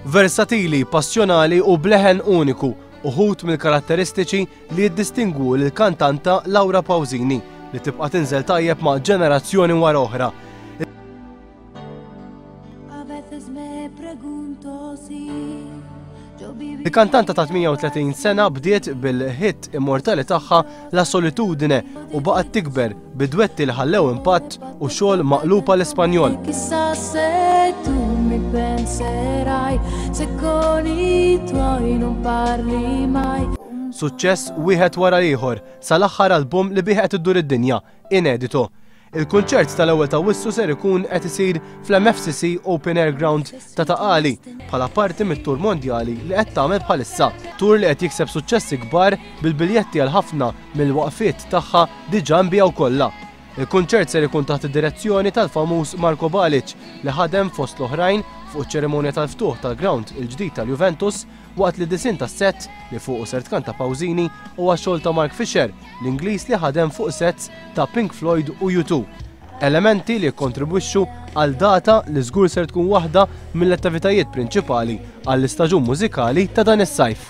Versatili, passjonali u bleħen uniku, uħud mill-karatteristiċi li jiddistingwu l-kantanta Laura Pawzini li tibqa' tinżel tajjeb ma' ġenerazzjoni wara oħra. Il-kantanta ta' 38 sena bdiet bil-hit immortali tagħha La Solitudine u baqgħet tikber bidwetti li ħallew impatt u xogħol maqlupa l-Ispanjol. Suċċess wieħed wara ieħor sal-aħħar album li bih qed iddur id-dinja Inedito. Il-kunċert tal-ewwel ta' Awwissu ser ikun qed isir fl-MFCC Open Air Ground ta' Ta' Qali bħala parti mit-tour mondjali li qed tagħmel bħalissa. Tour li qed jikseb suċċessi kbar bil-biljetti għal ħafna mill-waqfiet tagħha diġà nbiegħu kollha. Il-kunċert ser ikun taħt id-direzzjoni tal-famuż Marko Balic li ħadem fost l-oħrajn fuq iċ-ċerimonja tal-ftuħ tal-ground il-ġdid tal-Juventus Waqt li disinn tas-sett, li fuqu ser tkanta Pausini, huwa xogħol ta' Mark Fisher, l-Ingliż li ħadem fuq sets ta' Pink Floyd u U Two. Elementi li jikkontribwixxu għal data li żgur ser tkun waħda mill-attivitajiet prinċipali għall-istaġun mużikali ta' dan is-sajf.